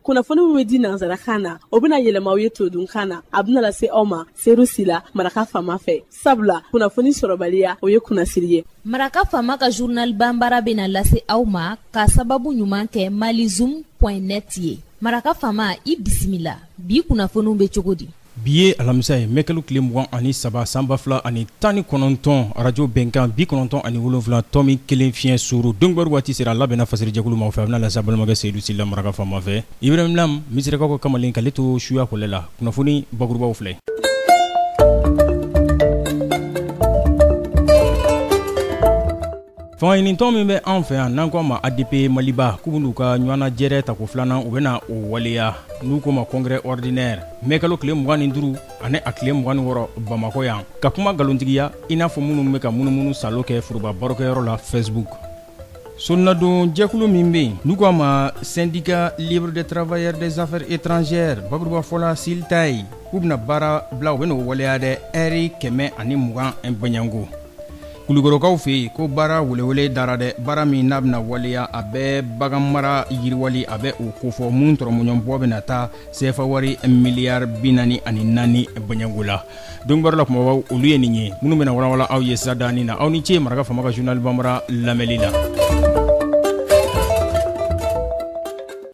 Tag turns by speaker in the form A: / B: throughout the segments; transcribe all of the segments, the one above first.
A: kunnafoni min bɛ di nansarakan na o bɛna yɛlɛma aw ye todunkan na a bɛna lase aw ma seyidu sila maraka faama fɛ sabula kunnafoni sɔrɔbaliya o ye kunnasiri ye maraka faama
B: ka journal banbara bɛna lase aw ma ka sababu ɲuman kɛ malizoom net ye maraka faama i bisimila bi kunnafoniw bɛ cogo di bi ye alamisa
C: ye mɛkalo tile mugan ani saba san ba fila ani tan ni kɔnɔntɔn arajo bɛnkan bi kɔnɔntɔn ani wolonfila tɔmi kelen fiɲɛ suuru donkibaru waati sera a labɛnna fasirijɛkulu maaw fɛ a bɛna lase balimakɛ seyidu sila maraka faama fɛ ibirahim lam misirakaw ka kamalen k'ale to suya kɔlɛ la kunnafoni bakurubaw filɛ fangaɲinitɔn min bɛ an fɛ yan n'an k'a ma adp maliba k'u bɛn'u ka ɲɔgɔnnajɛrɛ tako filanan u bɛna o waleya n'u ko ma congrès ordinaire mɛkalo tile mugan ni duru ani a tile mugan ni wɔrɔ bamakɔ yan ka kuma nkalontigiya i n'a fɔ minnu bɛ ka munumunu salo kɛ foroba barokɛyɔrɔ la facebook sonnadon jɛkulu min bɛ yen n'u k'a ma syndicat libre des travailleurs des affaires étrangères bakuruba fɔla syltae k'u bɛna baara bila u bɛna o waleya dɛ ɛri kɛmɛ ani mugan bɔɲanko kulukorokaw fɛ yen ko baara welewele dara dɛ baara min n'a bɛna waleya a bɛ bagan mara yiriwali a bɛ o kofɔ min tɔrɔmɔɲɔnbɔ bɛna taa sefa wari miliyari bi naani ani naani bɔɲanko la donkibaru la kumabaw olu ye nin ye minnu bɛna walawala aw ye sadaani na aw ni ce maraka faama ka journal banbara lamɛnni la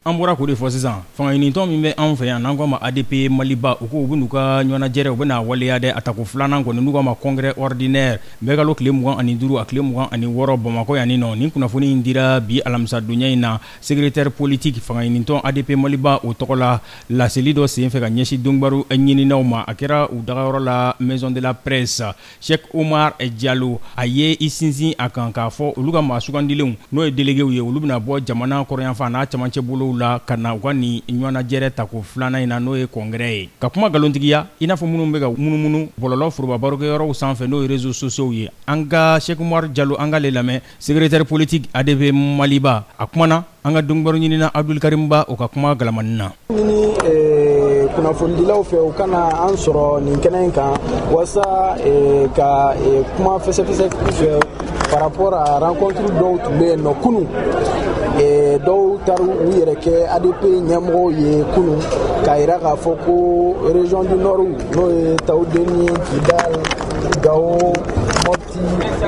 C: An bɔra k'o de fɔ sisan fangaɲinitɔn min bɛ anw fɛ yan n'an k'a ma ADP Maliba u ko u bɛn'u ka ɲɔnajɛrɛ u bɛn'a waleya dɛ a tako filanan kɔni n'u k'a ma congrès ordinaire mɛkalo tile mugan ani duuru a tile mugan ani wɔɔrɔ Bamakɔ yan nin nɔ nin kunnafoni in dira bi alamisadonya in na secrétaire politique fangaɲinitɔn ADP Maliba o tɔgɔ la laseli dɔ senfɛ ka ɲɛsin donkibaru ɲininaw ma a kɛra u dagayɔrɔ la maison de la presse Sɛki umaru jalo a ye i sinsin a kan k'a fɔ olu ka maa sugandilenw n'o ye delegew ye olu bɛna bɔ jamana kɔrɔyanfan n'a camancɛ bolow la ka na u ka nin ɲɔgɔnnajɛrɛ tako filanan in na n'o ye congrès ye ka kuma nkalontigiya i n'a fɔ minnu bɛ ka munumunu bɔlɔlɔ forobabarokɛyɔrɔw sanfɛ n'o ye réseaux sociaux ye an ka sɛki umaru jalo an k'ale lamɛn Secrétaire politique adp maliba a kumana an ka donkibaru ɲinina abudul karimu ba o ka kuma galamanin na an y'a ɲini kunnafonidilaw
D: fɛ u ka na an sɔrɔ nin kɛnɛ in kan walasa ka kuma fɛsɛfɛsɛ u fɛ par rapport à rencontre dɔw tun bɛ yen nɔ kunun dɔw taara u yɛrɛ kɛ adp ɲɛmɔgɔw ye kunun k'a jira k'a fɔ ko région du nord n'o ye tawudeni kidal gawo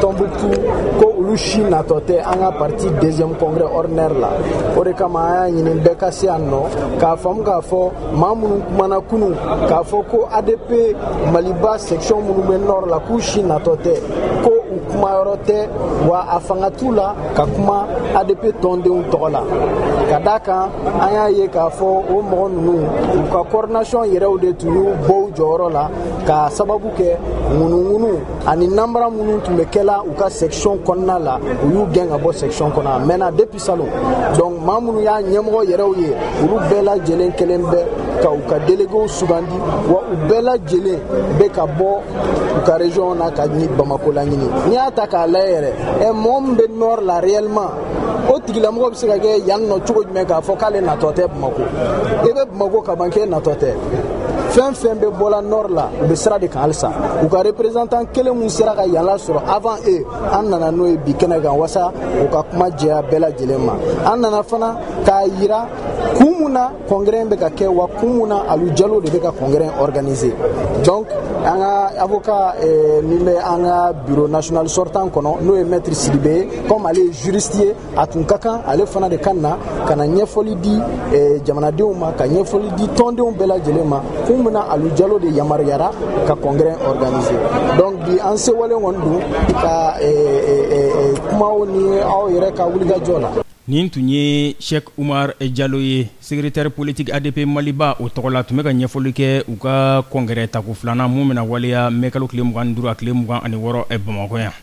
D: Tombouctou ko olu si natɔ tɛ an ka parti deuxième congrès ordinaire la o de kama an y'a ɲini bɛɛ ka se yan nɔ k'a faamu k'a fɔ maa minnu kumana kunu k'a fɔ ko adp maliba section minnu bɛ nord la k'u si natɔ tɛ ko u kuma yɔrɔ tɛ wa a fanga t'u la ka kuma adp tɔndenw tɔgɔ la ka d'a kan an y'a ye k'a fɔ o mɔgɔ ninnu u ka coordination yɛrɛw de tun y'u bɔ u jɔyɔrɔ la k'a sababu kɛ ŋunuŋunu ani nanbara minnu tun bɛ kɛla u ka section kɔnɔna la u y'u gɛn ka bɔ section kɔnɔ a mɛnna depuis salon donc maa minnu y'a ɲɛmɔgɔ yɛrɛw ye olu bɛɛ lajɛlen kelen bɛ ka u ka delegew sugandi wa u bɛɛ lajɛlen bɛ ka bɔ u ka region na ka ɲi bamako laɲini n'i y'a ta k'a lajɛ yɛrɛ ɛ mɔgɔ min bɛ nord la réellement o tigilamɔgɔ bɛ se ka kɛ yan nɔ cogo jumɛn k'a fɔ k'ale natɔ tɛ bamako i bɛ bamako kaban k'e natɔ tɛ fɛn fɛn bɛ bɔla nord la u bɛ sira de kan halisa u ka représentant kelen min sera ka yan lasɔrɔ avant eux an nana n'o ye bi kɛnɛ kan wasa u ka kuma jɛya bɛɛ lajɛlen ma an nana fana k'a yira kun mun na congrès bɛ ka kɛ wa kun mun na alu jalo de bɛ ka congrès organiser donc an ka avocat eh, min bɛ an ka bureau national sortant kɔnɔ n'o ye maître sidibe ye comme ale ye juriste ye a tun ka kan ale fana de ka na ka na ɲɛfɔli di eh, jamanadenw ma ka ɲɛfɔli di tɔndenw bɛɛ lajɛlen ma kun mun na alu jalo de yamaruyara ka congrès organiser donc bi an sewalen kɔni don ka eh, eh, eh, eh kumaw ni aw yɛrɛ ka wulikajɔ la nin tun
C: ye sheikh umar jalo ye secrétaire politique adp maliba o tɔgɔ la tun bɛ ka ɲɛfɔli kɛ u ka congrès tako filanan mun bɛna waleya mɛ kalo tile mugan ni duuru a tile mugan ani wɔɔrɔ eh, bamakɔ yan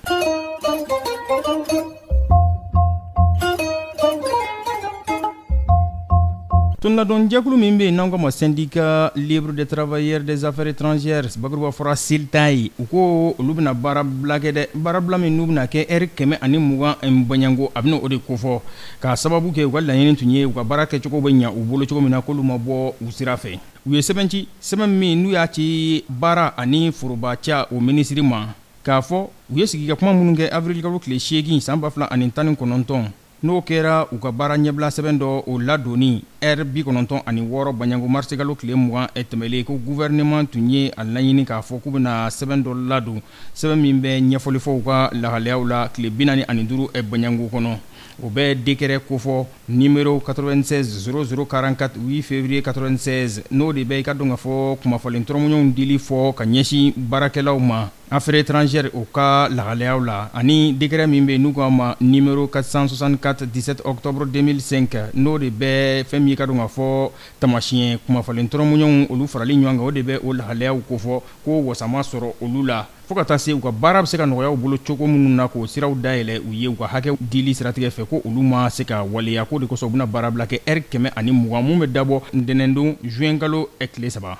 C: Tɔnladonjɛkulu min bɛ yen n'an k'o ma syndicat libre des travailleurs des affaires étrangères bakuruba fɔra syltae u ko olu bɛna baarabila kɛ dɛ baarabila min n'u bɛna kɛ ɛri kɛmɛ ani mugan in baɲango a bɛna o de kofɔ k'a sababu kɛ u ka laɲini tun ye u ka baara kɛcogo bɛ ɲɛ u bolo cogo min na k'olu ma bɔ u sira fɛ u ye sɛbɛn ci sɛbɛn min n'u y'a ci baara ani foroba ca o minisiri ma k'a fɔ u ye sigi ka kuma minnu kɛ awirilikalo tile seegin san ba fila ani tan ni kɔnɔntɔn n'o kɛra u ka baara ɲɛbilasɛbɛn dɔ o ladonni ɛri bi kɔnɔntɔn ani wɔɔrɔ baɲango marisikalo tile mugan tɛmɛlen ko gouvernement tun ye a laɲini k'a fɔ k'u bɛna sɛbɛn dɔ ladon sɛbɛn min bɛ ɲɛfɔli fɔ u ka lahalayaw la tile bi naani ani duuru baɲango kɔnɔ o bɛ décret kofɔ numéro 96 0044 8 février 96 n'o de bɛ i k'a dɔn k'a fɔ kumafalen tɔrɔmɔɲɔgɔnw dili fɔ ka ɲɛsin baarakɛlaw ma Affaires étrangères u ka lahalayaw la ani décret min bɛ yen n'u k'a ma numéro 464 17 octobre 2005 n'o de bɛ fɛn min ka dɔn ka fɔ taamasiyɛn kumafalen tɔrɔmɔɲɔgɔnw olu farali ɲɔgɔn kan o de bɛ o lahalayaw kofɔ ko wasa ma sɔrɔ olu la fo ka taa se u ka baara bɛ se ka nɔgɔya u bolo cogo minnu na k'o siraw dayɛlɛ u ye u ka hakɛ dili siratigɛ fɛ ko olu ma se ka waleya k'o de kosɔn u bɛna baarabila kɛ ɛri kɛmɛ ani mugan min bɛ dabɔ ntɛnɛndon zuwɛnkalo tile saba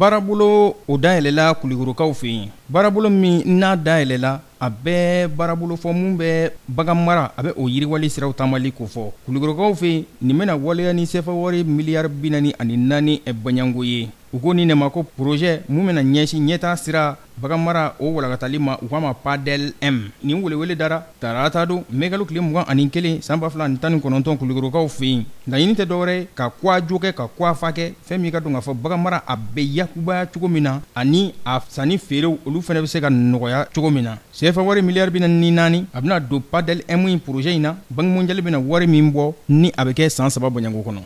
C: baarabolo o dayɛlɛla Kulikorokaw fɛ yen baarabolo min n'a dayɛlɛla a bɛɛ baarabolo fɔ min bɛ baganmara a bɛ o yiriwali siraw taamali kofɔ Kulikorokaw fɛ yen nin bɛna waleya ni sɛfɛwari miliyari bi naani ani naani bɔɲɔgɔnko ye U ko nin de ma ko projet min bɛna ɲɛsin ɲɛtaa sira baganmara o walankatali ma u k'a ma PADEL-M nin welewele dara tarata don mɛkalo tile mugan ani kelen san ba fila ni tan ni kɔnɔntɔn Kulikorokaw fɛ yen laɲini tɛ dɔ wɛrɛ ka ko a jo kɛ ka ko a fa kɛ fɛn min ka dɔn k'a fɔ baganmara a bɛ yakubaya cogo min na ani a sanni feerew olu fana bɛ se ka nɔgɔya cogo min na sefa wari miliyari bi naani ni naani a bɛna don PADEL-M in projet in na Banque mondiale bɛna wari min bɔ ni a bɛ kɛ san saba bɔɲɔgɔnko kɔnɔ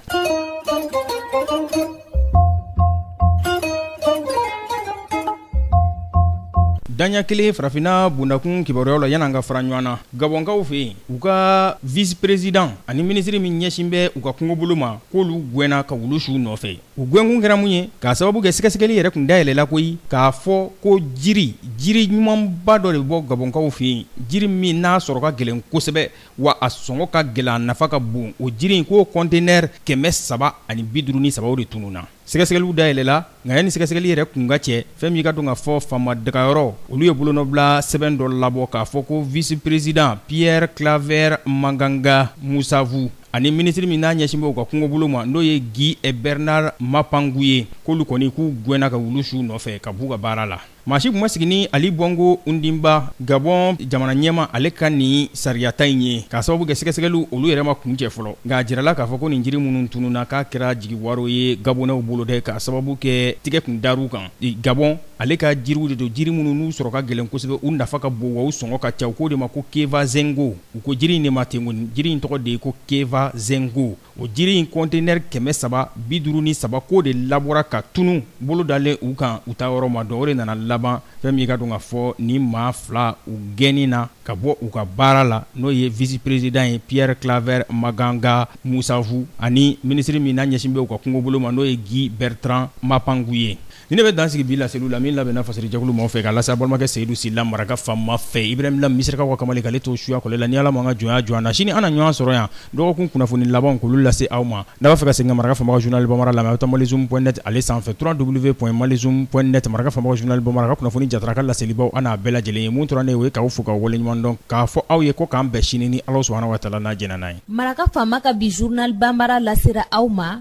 C: daɲa kelen farafinna bundakun kibaruyaw la yan'an ka fara ɲɔgɔn na gabɔnkaw fɛ yen u ka vice président ani minisiri min ɲɛsin bɛ u ka kungobolo ma k'olu gwɛnna ka wulu su u nɔfɛ u gwɛnkun kɛra mun ye k'a sababu kɛ sɛgɛsɛgɛli yɛrɛ kun dayɛlɛla koyi k'a fɔ ko jiri jiri ɲumanba dɔ de bɔ gabɔnkaw fɛ yen jiri min n'a sɔrɔ ka gɛlɛn kosɛbɛ wa a sɔngɔ ka gɛlɛn a nafa ka bon o jiri in k'o conteneur kɛmɛ saba ani bi duuru ni saba o de tununna sɛgɛsɛgɛliw dayɛlɛla nka yanni sɛgɛsɛgɛli yɛrɛ kun ka cɛ fɛn min ka dɔn ka fɔ faama dagayɔrɔ olu ye bolonɔbila sɛbɛn dɔ labɔ k'a fɔ ko vice-président Pierre Claver Maganga Moussavou ani minisiri min n'a ɲɛsin bɛ u ka kungobolo ma n'o ye Guy Bernard Mapangou ye k'olu kɔni k'u gwɛnna ka wulu su u nɔfɛ ka b'u ka baara la. maa si kun ma sigi ni Ali Bongo Ondimba gabɔn jamana ɲɛmaa ale ka nin sariyata in ye k'a sababu kɛ sɛgɛsɛgɛliw olu yɛrɛ ma kuncɛ fɔlɔ nka a jirala k'a fɔ ko nin jiri minnu tununna k'a kɛra jigiwaro ye gabonɛw bolo dɛ k'a sababu kɛ tigɛ kun dar'u kan gabɔn ale ka jiriw de don jiri minnu n'u sɔrɔ ka gɛlɛn kosɛbɛ u nafa ka bon wa u sɔngɔ ka ca u k'o de ma ko kevazingo u ko jiri in de ma ten kɔni jiri in tɔgɔ de ye ko kevazingo O jiri in kɔntenɛri kɛmɛ saba bi duuru ni saba k'o de labɔra ka tunun bolo dalen u kan u taa yɔrɔ ma dɔn o de nana laban fɛn min ka dɔn ka fɔ ni maa fila u gɛnni na ka bɔ u ka baara la n'o ye vice-président ye Pierre Claver Maganga Moussavou ani minisiri min n'a ɲɛsin bɛ u ka kungobolo ma n'o ye Guy Bertrand Mapangou ye Ni ne bɛ dan sigi bi laseliw la min labɛnna fasari jɛkulu maaw fɛ k'a lase aw balimakɛ seyidu sila maraka fanma fɛ ibrahim lam misirakaw ka kamalen k'ale to suyakɔ la ni ala ma an ka jɔnya jɔ an na sini an na ɲɔgɔn sɔrɔ yan dɔgɔkun kunnafoni labanw k'olu lase aw ma n'aw b'a fɛ ka segin ka maraka fanma ka journal bambara lamɛn aw bɛ taa malizoom point net ale sanfɛ trois double v point malizoom point net maraka fanma ka journal bambara ka kunnafoni jara ka laselibaw an n'a bɛɛ lajɛlen ye mun tora ne ye k'aw fo k'aw waleɲumandɔn k'a fɔ aw ye ko k'an bɛn sini ni ala subahana wa taala n'a jɛnna n'a ye maraka faama
B: ka bi journal bambara lasera aw ma